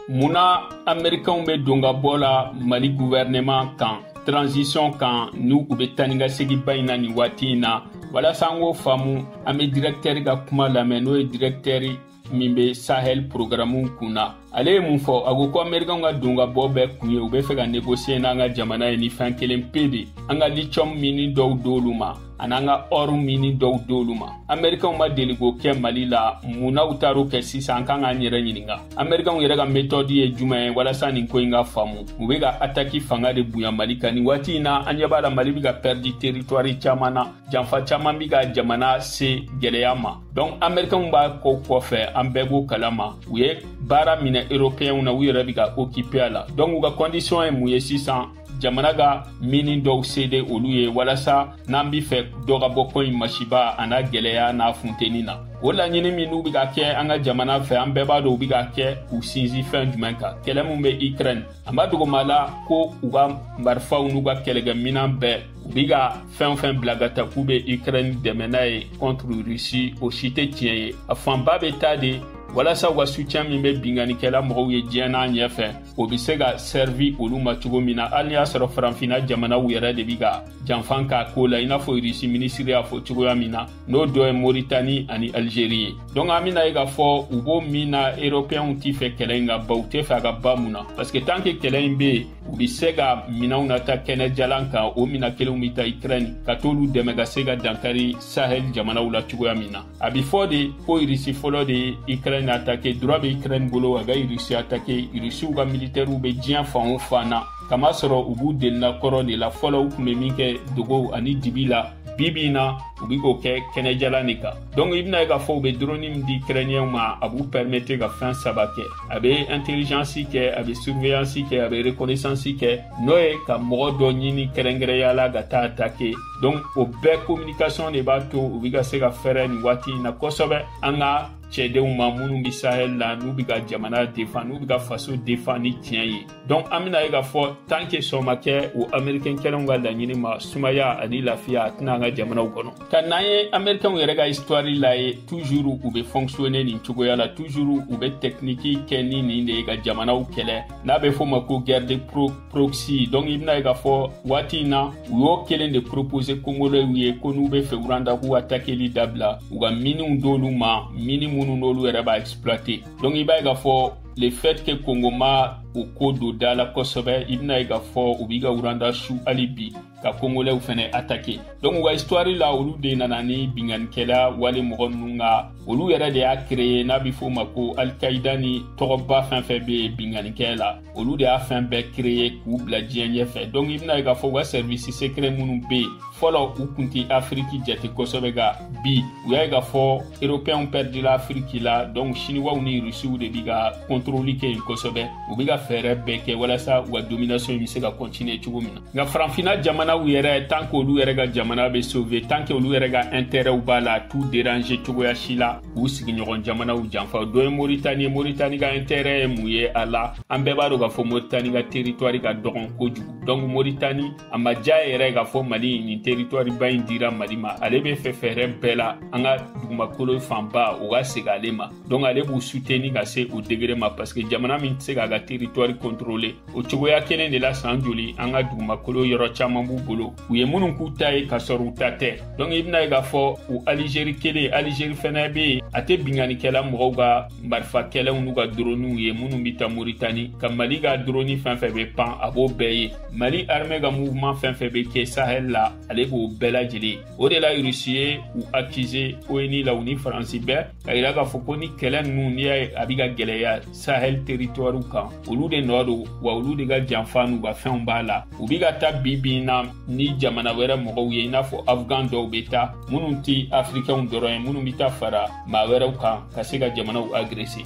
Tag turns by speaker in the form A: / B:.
A: mun na amerikanw bɛ don ka bɔ la mali guvɛrɛnɛman kan transition kan ni u bɛ taa ni ka seginba in na nin waati in na walasa an k'o faamu an bɛ dirɛktɛri ka kuma lamɛn n'o ye dirɛktɛri min bɛ sahel programu kun na ale ye mun fɔ a ko ko amerikanw ka don ka bɔ bɛɛ kun ye u bɛ fɛ ka negosiye n'an ka jamana ye ni fɛn kelen pe de an ka litiyɔmu mini dɔw d'olu ma a n'an ka ɔru mini dɔw d'olu ma amerikanw ma deli k'o kɛ mali la mun na u taar'o kɛ sisan an kan k'an yɛrɛ ɲininga amerikanw yɛrɛ ka metɔdi ye juman ye walasa nin ko in ka faamu u be ka ataki fanga de bonya mali kan nin waati in na an ɲɛ b'a la mali be ka pɛrdi teritwari caaman na janfa caaman be ka jamana se gwɛlɛya ma donk amerikanw b'a ko kɔfɛ an bɛɛ b'o kala ma u ye baara minɛ eropeyɛnw na u yɛrɛ be ka okipe a la donk u ka kɔndisiyɔn ye mun ye sisan jamana ka mini dɔw sede olu ye walasa n'an be fɛ dɔ ka bɔ ko in masiba a n'a gwɛlɛya n'a funteni na o laɲini min n'u be ka kɛ an ka jamana fɛ an bɛɛ b'a dɔn u be ka kɛ k'u sinsin fɛn jumɛn kan kɛlɛ min be ukraine an b'a dogoma la ko u ka marifaw n'u ka kɛlɛkɛ minan bɛɛ u be ka fɛn o fɛn bila ka taa k'u be ukraine dɛmɛ n'a ye contre russie o si tɛ tiɲɛ ye a fanba be taa de walasa u ka sutiyɛn min be binkannikɛla mɔgɔw ye diɲɛ n'a ɲɛ fɛ o bɛ se ka sɛrivi olu ma cogo min na hali y'a sɔrɔ faranfinna jamanaw yɛrɛ de bi ka janfa k'a ko la i n'a fɔ irisi minisiri y'a fɔ cogoya min na n'o dɔ ye moritani ani alizeri ye donk an bɛna ye k'a fɔ u b'o min na eropeyɛnw tɛ fɛ kɛlɛ in ka ban u tɛ fɛ a ka ban mun na parce que tant que kɛlɛ in bɛ yen u bɛ se ka minɛnw nataa kɛnɛ jalan kan o minɛn kelenw bɛ taa ukraine ka t'olu dɛmɛ ka se ka dankari sahel jamanaw la cogoya min na a bɛ fɔ de ko irisi fɔlɔ de ye ukraine atake droit bɛ ukraine bolo a ka irisi atake irisiw ka militɛriw bɛ diɲɛ fan o fan na kamasɔrɔ u b'u delina kɔrɔ de la fɔlɔ u tun bɛ min kɛ dogo ani dibi la bibi in na u bɛ k'o kɛ kɛnɛjalan de kan donc i bɛna ye k'a fɔ u bɛ droni min di ukrainiyɛnw ma a b'u permettre ka fɛn saba kɛ a bɛ intelligence kɛ a bɛ surveillance kɛ a bɛ reconnaissance kɛ n'o ye ka mɔgɔ dɔ ɲini kɛrɛnkɛrɛnya la ka taa attaquer donc o bɛɛ communication de b'a to u bɛ ka se ka fɛɛrɛ nin waati in na kosɛbɛ an ka cɛdenw ma minnu bɛ sahel la n'u bɛ ka jamana defan n'u bɛ ka faso defan ni tiɲɛ ye donc an bɛna ye k'a fɔ tant que sɔn ma kɛ o américain kelenw ka laɲini ma sumaya ani lafiya a tɛ na an ka jamanaw kɔnɔ ka n'an ye américainw yɛrɛ ka histoire lajɛ toujours u bɛ fonctionner nin cogoya la toujours u bɛ technique kɛ ni nin de ye ka jamanaw kɛlɛ n'a bɛ f'o ma ko guerre de pro proxy donc i bɛna ye k'a fɔ waati in na u y'o kelen de propose kongolɛw ye ko n'u bɛ fɛ uranda k'u atakeli dabila u ka miniw d'olu ma mini minnu n'olu yɛrɛ b'a exploite donc i b'a ye k'a fɔ le fait que kongo ma o ko don da la kosɛbɛ i bɛna ye k'a fɔ u bi ka uranda su hali bi ka kongolɛw fɛnɛ atake donc u ka histoire la olu de nana ni binganikɛla wale mɔgɔ ninnu ka olu yɛrɛ de y'a kreye n'a bɛ f'o ma ko alkaida ni tɔgɔba fɛn fɛn bɛ binganikɛ la olu de y'a fɛn bɛɛ kreye k'u bila diɲɛ ɲɛfɛ donk i bɛna ye k'a fɔ u ka sɛrivisi sekrɛ minnu be yen fɔlɔ u kun tɛ afiriki jate kosɛbɛ nka bi u y'a ye k'a fɔ eropɛnw pɛridila afiriki la donk siniwaw ni rusiw de bi ka kɔntoroli kɛ yen kosɛbɛ u bi ka fɛɛrɛ bɛɛ kɛ walasa u ka dominasɔn in be se ka kɔntiniye cogo min na nka faranfina jamanaw yɛrɛ tan ke olu yɛrɛ ka jamana be sove tan ke olu yɛrɛ ka ɛntɛrɛw b'a la t'u derange cogoya si la k'u sigiɲɔgɔn jamanaw janfa dɔ ye moritani ye moritani ka intɛrɛ ye mun ye a la an bɛɛ b'a dɔn k'a fɔ moritani ka teritwari ka dɔgɔn kojugu donc moritani a ma diya yɛrɛ k'a fɔ mali nin teritwari ba in dira mali ma ale b'a fɛ fɛɛrɛ bɛɛ la an ka dugumakolo fanba o ka segin ale ma donc ale b'u suteni ka se o degere ma parce que jamana min tɛ se k'a ka teritwari kɔntorole o cogoya kelen de la san joli an ka dugumakolo yɔrɔ caman b'u bolo u ye minnu k'u ta ye ka sɔrɔ u ta tɛ donc i bɛna ye k'a fɔ u alizeri kelen alizeri fɛnɛ bɛ yen a tɛ binkanikɛla mɔgɔw ka marifa kɛlɛw n'u ka doroniw ye minnu bɛ taa moritani nka mali ka doroni fɛn fɛn bɛ pan a b'o bɛɛ ye mali armɛ ka mouvement fɛn fɛn bɛ kɛ sahel la ale b'o bɛɛ lajɛlen o de la rusi ye u akize onu la u ni faransi bɛɛ k'a yira k'a fɔ ko nin kɛlɛ ninnu n'i y'a ye a bɛ ka gɛlɛya sahel teritɔriw kan olu de nɔ don wa olu de ka janfa n'u ka fɛnw b'a la u bɛ ka taa bi bi in na ni jamana wɛrɛ mɔgɔw ye i n'a fɔ afghan dɔw be taa minnu ti afirikɛnw dɔrɔn ye minnu be taa fara maa wɛrɛw kan ka se ka jamanaw agrese